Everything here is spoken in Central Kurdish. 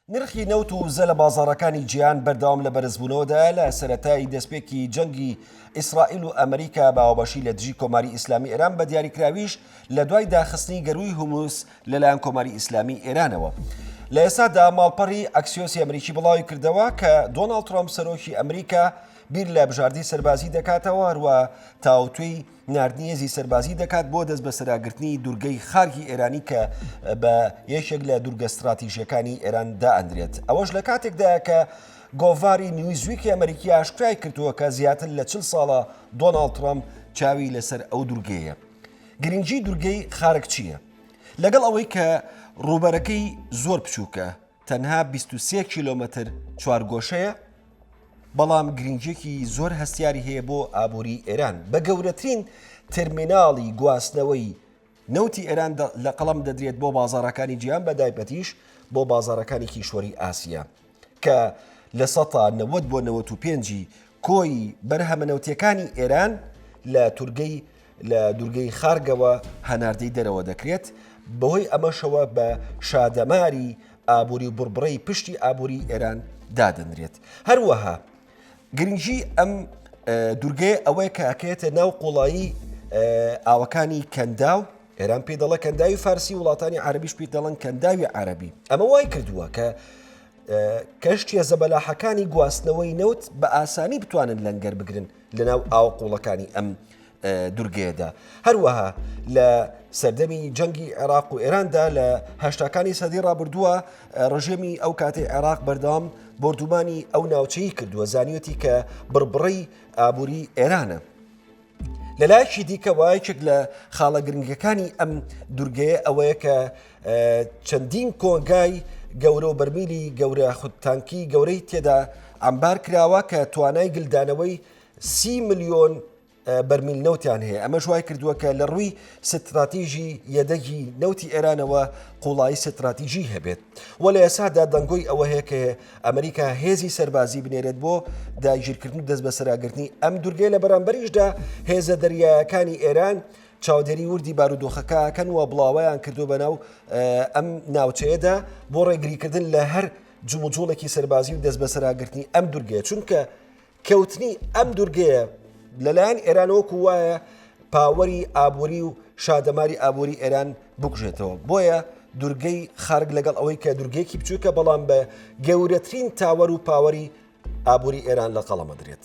نرخی نەوت و وزە لە بازاڕەکانی جیهان بەردەوام لە بەرزبوونەوەدایە، لە سەرەتای دەستپێکی جەنگی ئیسرائیل و ئەمریکا بە ئاوبەشی لە دژی کۆماری ئیسلامی ئێران بە دیاریکراویش لە دوای داخستنی گەرووی هورمز لەلایەن کۆماری ئیسلامی ئێرانەوە لە ئێستادا ماڵپەڕی ئەکسیۆسی ئەمریکی بڵاوی کردەوە کە دۆناڵد ترامپ سەرۆکی ئەمریکا بیر لە بژاردەی سەربازی دەکاتەوە هەروە تاوتوێی ناردنی هێزی سەربازی دەکات بۆ دەستبەسەراگرتنی دورگەی خارگی ئێرانی کە بە یەکێک لە دورگە ستراتیژەکانی ئێران دائەندرێت ئەوەش لە کاتێکدا کە گۆڤاری نیویزویکی ئەمریکی ئاشکرای کردووە کە زیاتر لە چل ساڵە دۆناڵ ترامپ چاوی لەسەر ئەو دورگەیە گرنگی دورگەی خارک چییە لەگەڵ ئەوەی کە ڕووبەرەکەی زۆر بچووکە تەنها بیست و سێ کیلۆمەتر چوارگۆشەیە، بەڵام گرنگیەکی زۆر هەستیاری هەیە بۆ ئابووری ئێران بە گەورەترین ترمیناڵی گواستنەوەی نەوتی ئێران لە قەڵم دەدرێت بۆ بازارەکانی جیان بە دایبەتیش بۆ بازارەکانی کیشوەری ئاسیە کە لە سەتا نەوەد بۆ نەوەت و پێنجی کۆی بەرهەمە نەوتیەکانی ئێران لە تورگەی لە دوورگەی خارگەوە هەناردەی دەرەوە دەکرێت بەهۆی ئەمەشەوە بە شادەماری ئابووری و بڕبڕەی پشتی ئابووری ئێران دادەنرێت هەروەها گرنگی ئەم دوورگەیە ئەوەیە کاکەێتە ناو قوڵایی ئاوەکانی کەندا و ئێران پێ دەڵە کەنداوی فارسی وڵاتانی عربیش پێ دەڵن کەنداوی عربی ئەمە وای کردووە کە کەشتیە زەبەلاحەکانی گواستنەوەی نەوت بە ئاسانی بتوانن لەنگەر بگرن لەناو ئاو قوڵەکانی ئەم دورگەیەدا هەروەها لە سەردەمی جەنگی عێراق و ئێراندا لە هەشتاکانی سەدی ڕابردووە ڕژێمی ئەو کاتی عێراق بەردەوام بردومانی ئەو ناوچەی کردووە زانیوەتی کە بڕبڕی ئابووری ئێرانە لە لایەکی دیکەوە یەکێک لە خاڵە گرنگەکانی ئەم دوورگەیە ئەوەیە کە چەندین کۆنگای گەورە و بەرمیلی گەورە خودتانکی گەورەی تێدا ئەمبار کراوە کە توانای گلدانەوەی سی میلیۆن بەرمیل نەوتیان هەیە ئەمە شوای کردووە کە لە ڕووی ستراتیژی یەدەگی نەوتی ئێرانەوە قوڵایی ستراتیژی هەبێت وە لە ئێسادا دەنگۆی ئەوە هەیە کە ئەمریکا هێزی سەربازی بنێرێت بۆ داگیرکردن و دەستبەسەراگرتنی ئەم دورگەی لە بەرامبەریشدا هێزە دەریایەکانی ئێران چاودێری وردی بارودۆخەکەکەن و بڵاویان کردو بەناو ئەم ناوچەیەدا بۆ ڕێگریکردن لە هەر جموجوڵێکی سەربازی و دەست بەسەراگرتنی ئەم دورگەیە چونکە کەوتنی ئەم دوورگەیە لەلایەن ئێرانەوەکو وایە پاوەری ئابووری و شادەماری ئابووری ئێران بکوژێتەوە بۆیە دوورگەی خارگ لەگەڵ ئەوەی کە دوورگەیەکی بچووکە بەڵام بە گەورەترین تاوەر و پاوەری ئابووری ئێران لە قەڵەمە درێت.